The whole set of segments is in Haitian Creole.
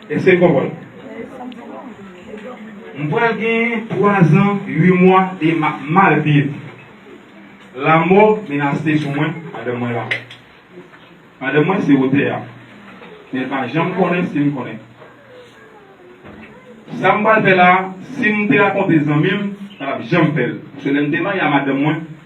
Èske n konprann? M pral gen twazan uimwa e m ap mal viv. Lamò menase sou mwen pandan mwen la. Madanm mwen se otè a, men l pa janm konnen si m konnen. Sa m pral fè la a, si m te rakonte zanmi m, m pa t ap janm fè l. Paske lè m te marye a madanm mwen,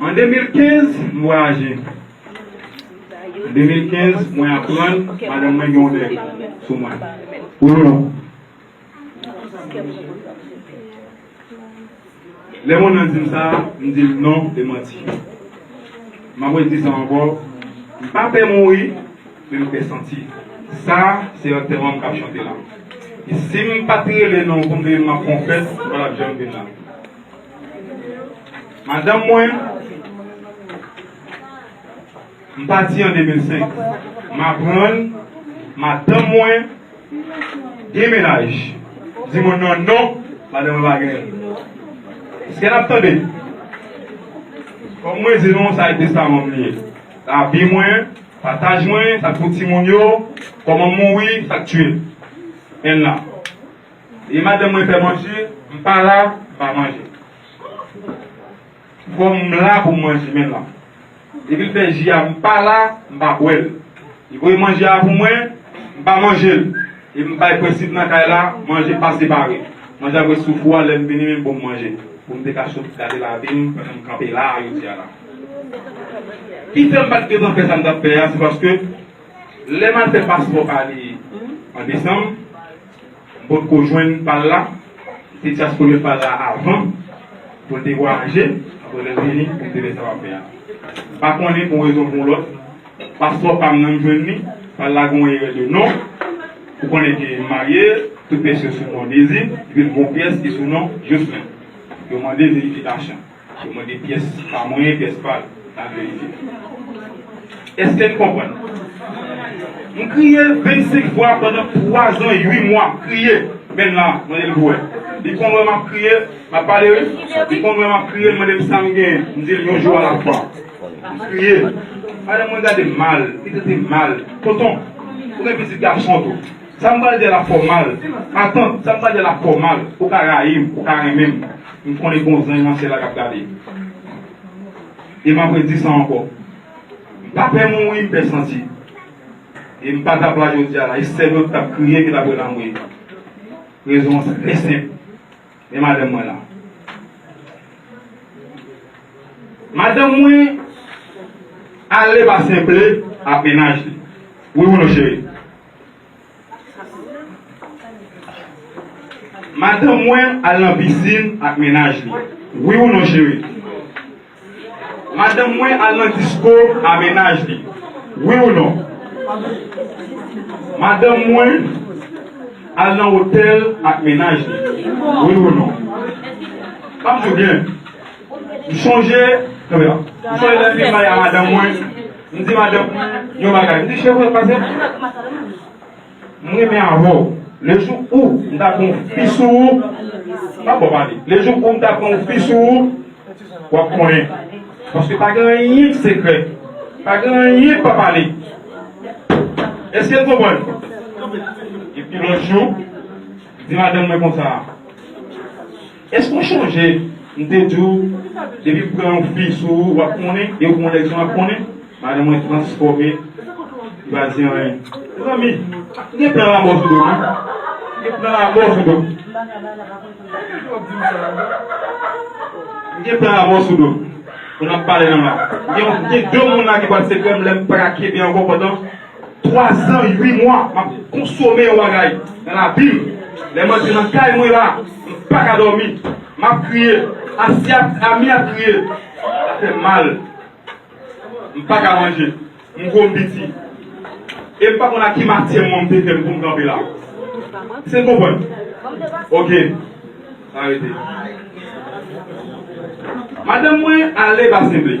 An 2015, m vwayaje. An 2015, mwen aprann madanm mwen gen yon nèg sou mwen. Oulala! Lè moun nan di m sa, m di l non, e manti. M pa pwè di sa ankò. M pa pè mouri. Men m fè santi sa se antèman m k ap chante la. E si m pa t rele non pou m veye m ap fè yon fèt m pa t ap janm vin la. Madanm mwen M pati an 2005. M aprann madanm mwen gen mennaj. M di moun nan non madanm mwen pa genyen. Eske n ap tande? Kòm mwen di nou sa e testaman m li ye. Lavi mwen Pataj mwen sak pou timoun yo koman mouri sak tiyel en la e madanm mwen fè manje m pa la m pa manje fom m la poum manje men la epil fè ji a m pa la m pa bwel li voye manje a pou mwen m pa manjel em bay prensip nan kay la manje pa separe manje ap ret sou fou a lèm vini menm poum manje poum te ka sot gade lavim pandan m kanpe la a yo di a la. Ki fè m pa t gentan fè sa m t ap fè a, se paske lè m al fè paspò pa li an desanm, m potko jwenn pa l la. Li te dyaspore pa l la avan pou l te vwayaje. Apre lè l vini pou m te fè sa m ap fè a. M pa konnen pou yon rezon pou yon lòt, paspò pa m nan m jwenn li, pa l la gen yon erè de non. Ou konnen ke m marye, tout pyès yo sou non Dezi, epi l gen yon pyès ki sou non Joslin. Yo mande verifikasyon. Yo mande pyès pa mwen, pyès pa l, al verifye. Èske n konprann? M kriye 25 fwa pandan twazan ui mwa, m kriye. Menn la, mande l pou wè. Li konn wè m ap kriye, m ap pale wi. Li konn wè m ap kriye, l mande m sa m genyen. M di l yon jou alafwa. M kriye. Madanm mwen gade m mal, li trete m mal. Tonton, ou gen pitit gason tou. Sa m pral di a l ap fè w mal. Matant, sa m pral di a l ap fè w mal. Ou ka rayi m, ou ka renmen m. M konnen gon zanj nan syèl la kap gade m e map redi sa ankò m pa pè mouri m pè santi e m pa tap la jodia la e sèm yo tap kriye ki tap wè lanmwe rezon an se trè senp men madanm mwen la madanm mwen ale pa senple ak mennaj li wi ou non cheri. Madanm mwen al nan pisin ak mennaj li, wi ou non cheri? Madanm mwen al nan disko a mennaj li, wi ou non? Madanm mwen al nan otèl ak mennaj li, wi ou non? Tande byen! M chonje lè m te pale a madanm mwen, m di madanm mwen yon bagay, m di cheri pase m M renmen avè w, le jou ou m ta pran yon fi sou ou M pa bon pale Le jou ou m ta pran yon fi sou ou w ap konnen Paske pa gen anyen ki sekrè Pa gen anyen k pa pale Èske n konprann? Epi lòt jou, m di madanm mwen konsa. Èske ou chonje m te di w depi m pran yon fi sou ou w ap konnen e ou pran yon nèg sou m ap konnen? Madan mwen transfòme, li pa di anyen. Mezanmi, m gen plan lanmò sou do m wi. M gen plan lanmò sou do m. M gen plan lanmò sou do m. Moun ap pale nan m la. M gen de moun la ki pral sekrè m lè m pa ka kenbe ankò pandan. 3 zan 8 mwa map konsome yon bagay nan labim lèm antre nan kay mwen la mpaka dòmi map kriye asye ap ami ap kriye sa fèm mal mpaka manje mgwo mpiti em pa konn a ki matyè mwen mte fèm poum kanpe la eske'n konprann ok arete madanm mwen ale basenble.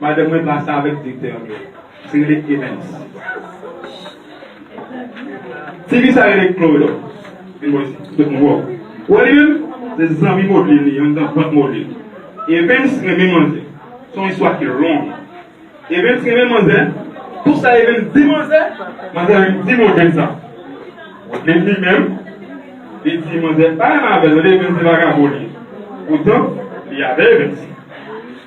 Madanm mwen pa sa avèk direktè an menm. Se rele Evens. Tifi sa rele Chloe. Vin bò isit. Tout moun wè w. Ou wè li menm? Se zanmi Modeline li. Ann dan vant Modeline. Evens renmen manzè. Se yon istwa ki long. Evens renmen manzè. Tout sa Evens di manzè, manzè vin di Modeline sa. Modeline li menm, li di manzè pa renmen avè l. Evens se vagabon li ye. Poutan, li avè Evens.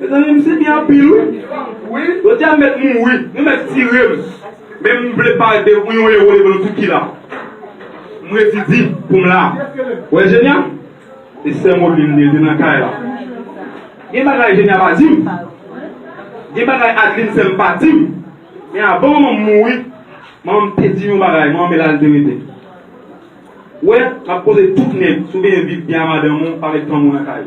Mezanmi m sibi anpil wi. Jodia m mèt mouri. Nou mèt tire m. Men m vle pade pou yon ewo devan tout ki la. M redi di pou m la. Ou wè Jenya? Se sè Moline li rete nan kay la. Gen bagay Jenya pa di m. Gen bagay Adeline sè m pa di m. Men avan manman m mouri, manman m te di m yon bagay. Manman Mela li te rete. Ou wè, m ap poze tout nèg. Si w genyen viv byen a madanm ou, pa met fanm ou nan kay.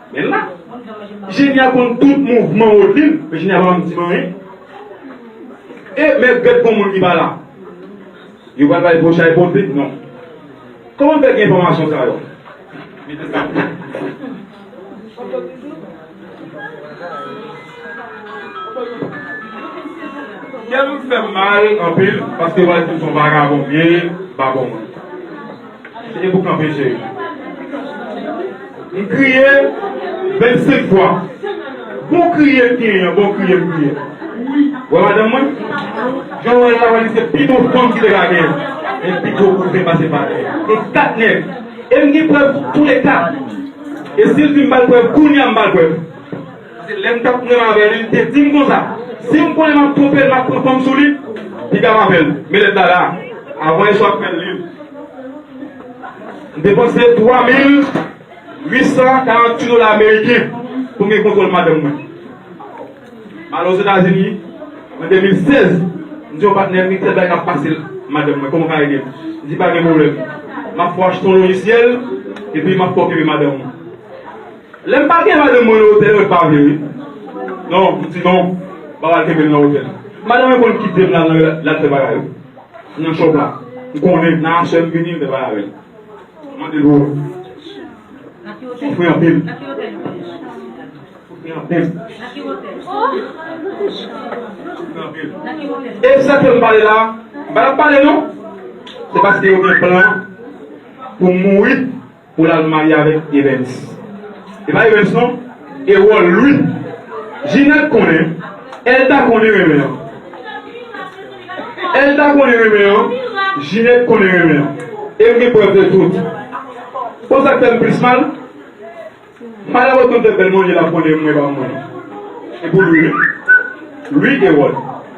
Men la. Jenya konn tout mouvman Rodeline men Jenya pa janm di m anyen. E mèd bèt gon moun ki pa la. Yo pral bay gwo chay pote non. Kòman m fè gen enfòmasyon sa yo? Mete sa pou m. Kè m fè m mal anpil paske yo pral di m son vagabon m ye, m pa bon moun. Se te pou kanpe je yo. M kriye 25 fwa. Bon kriye m genyen an, bon kriye m kriye. Wè madanm mwen? Jan w wè l la, wè li se pi bon fanm ki te ka genyen. Men pi gwo kou vin pase pa tè. E 4 nèg. E m gen prèv toulèka. E si l di m ba l prèv, kounye a m ba l prèv. Pase lèm tap pranm avèl li te dim konsa sim konnen map tronpel map pran fanm sou li piga map fèl men lèt la la avan eswa k fèl liv m depanse 3848 dola ameriken poum gen kontwòl madanm mwen m ale ozetazini an 2016 m di yon patnèm gen kèk bagay kap pasel madanm mwen kòman ka edem li di pagen pwoblèm map fè w achte yon lojisyèl epi map fè w kenbe madanm ou. Lem pa gen madanm mwen nan hotel mwen pa vle wi non m di non m pa pral kenbel nan hotel madanm mwen konn kitem lal nan rela lal fè bagay yo nan shop la m konnen nan aswem vini m fè bagay avèl m mande pou ou soufri anpil soufri anpil soufri anpil e sa kem pale la m pa tap pale non se paske yo gen plan poum mouri. Pou lal marye avèk evens. E pa evens non e wòl wi Ginette konnen el ta konnen renmen an el ta konnen renmen an Ginette konnen renmen an e m gen prèv de tout bon sak fèm plis mal madam otman fè bèl manje lap konnen mwen pa mwen e pou lwi wi lwi e wòl.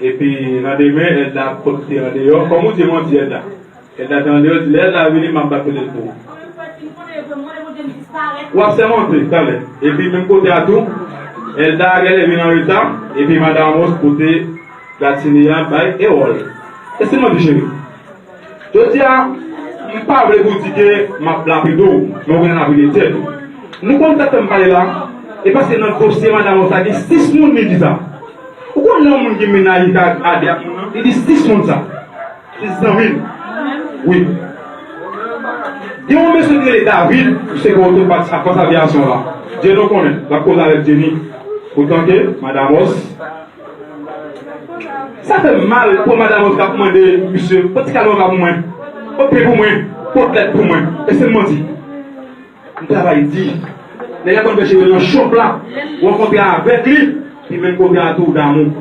Epi nan demen Elda ap konte andeyò kòm ou di manti Elda Elda te andeyò di lè Elda vini map bat kotel pou ou Wap sèmante talè Epi menm kote a tou Elda genlè vin anreta epi madan Amos pote gratine a bay Erol Esi manti cheri. Jodi a, m pa vle pou w di ke m ap lapide w, men w gen lapide tèt ou. Nou konn tèt tan m pale la, e paske nan dosye madam ou sa gen 6 moun li di sa. Ou konn yon moun ki mennaj li ka ale ak moun nan, li di 6 moun sa. 6 zanmi l. Wi. Gen yon mesye ki rele David, li se gwo otopat ak fòs aviyasyon la. Dieudon konnen, l ap koze avèk Jenny. Poutan ke madam os. Sa fè m mal pou madam an k ap mande misye pot ti kalot la pou mwen, pot pen pou mwen, pot lèt pou mwen. Èske m manti? M travay di. Nèg la konn fè jere nan chòp la, ou an kontra avèk li, li menm kontra tou damou.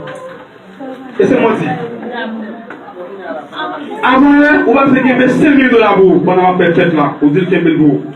Èske m manti? Avan yè, ou pa t vle kenbe senmil dola pou ou pandan m ap fè fèt la, ou di l kenbe l pou ou.